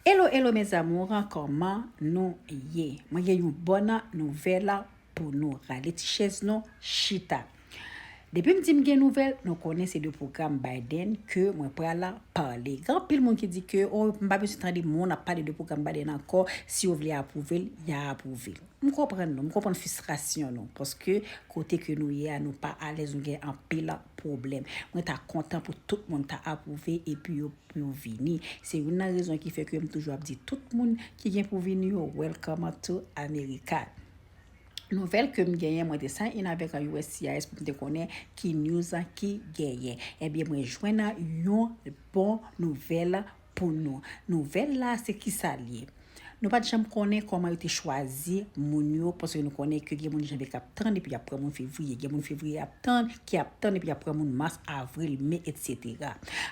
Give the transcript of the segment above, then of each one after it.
Hello hello mes amours kòman nou ye mwen gen yon bòn nouvèl pou nou rale ti chèz nou chita depi m di m gen nouvèl nou konnen se de pwogram Biden ke mwen pral pale gen anpil moun ki di ke oh m pa bezwen tande moun ap pale de pwogram Biden ankò si yo vle apwouve l ya apwouve l m konprann nou m konprann fistrasyon nou paske kote ke nou ye a nou pa alèz nou gen anpil pwoblèm mwen ta kontan pou tout moun ta apwouve epi yo pou yo vini. Se youn nan rezon ki fè ke m toujou ap di tout moun ki gen pou vini yo welcome to America. Nouvèl ke m genyen mwen te sign in avèk uscis pou m te konnen ki news ki genyen. Ebyen mwen jwenn yon bon nouvèl pou nou. Nouvèl la se kisa l ye? Nou pa t janm konnen kòman yo te chwazi moun yo paske nou konnen ke gen moun janvye k ap tann epi y ap pran moun fevriye, gen moun fevriye ap tann ki ap tann epi y ap pran moun mas, avril, me etsetera.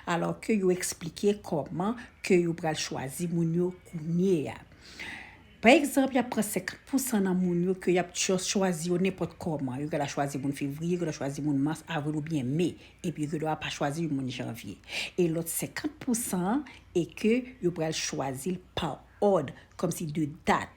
Alò ke yo eksplike kòman ke yo pral chwazi moun yo kounye a. Pa egzanp, y ap pran 50 pousan nan moun yo ke y ap chwazi yo nenpòt kòman. Yo ka ta chwazi moun fevriye, yo ka ta chwazi moun mas, avril oubyen me. epi ke dwa pa chwazi yon moun janvye e lòt 50 pou san an e ke yo pral chwazi l pa òd kòm si de dat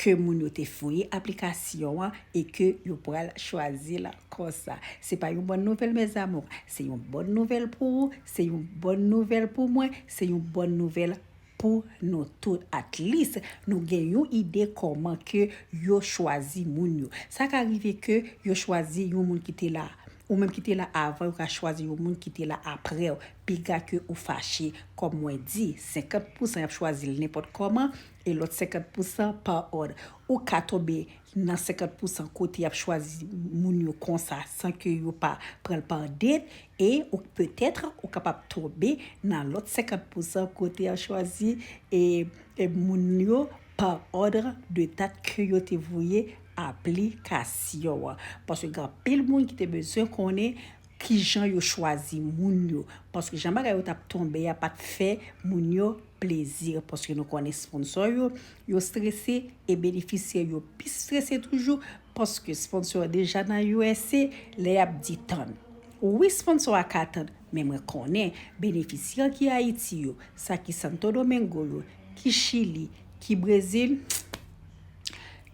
ke moun yo te voye aplikasyon an e ke yo pral chwazi l konsa se pa yon bòn nouvèl mes amours se yon bòn nouvèl pou ou se yon bòn nouvèl pou mwen se yon bòn nouvèl Pou nou tout at least nou gen yon ide kòman ke yo chwazi moun yo. Sa ka rive ke yo chwazi yon moun ki te la. Ou menm ki te la avan yo ka chwazi yon moun ki te la aprew. Piga ke ou fache. Kòm mwen di, 50 pousan yap chwazil nenpòt kòman e lòt 50 pousan pa òd. Ou ka tonbe nan 50 pousan kote yap chwazi moun yo konsa san ke yo pa pranl par date e ou peut-être ou kapab tonbe nan lòt 50 pousan kote yap chwazi e moun yo par ordre de date ke yo te voye aplikasyon an paske gen anpil moun ki te bezwen konnen kijan yo chwazi moun yo paske jan bagay yo tap tonbe a pat fè moun yo plezi paske nou konnen sponsò yo, yo strese e benefisyè yo pi strese toujou paske sponsò yo deja nan usa lè y ap di tann. Wi sponsò a ka tann men mwen konnen benefisyè ki Ayiti yo, sa ki Santo Domingo yo, ki Chili, ki Brezil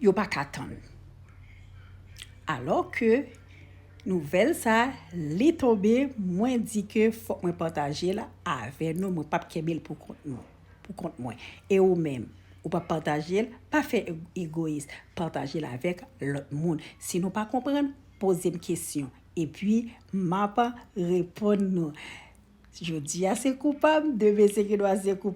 yo pa ka tann. Alò ke. Nouvèl sa li tonbe mwen di ke fòk mwen pataje l avè nou mwen pap kenbe l pou kont nou pou kont mwen e ou menm ou pa pataje l pa fè egoyis pataje l avèk lòt moun si nou pa konprann poze m kesyon epi map reponn nou jodia se koupab demen se gendwa se koupab.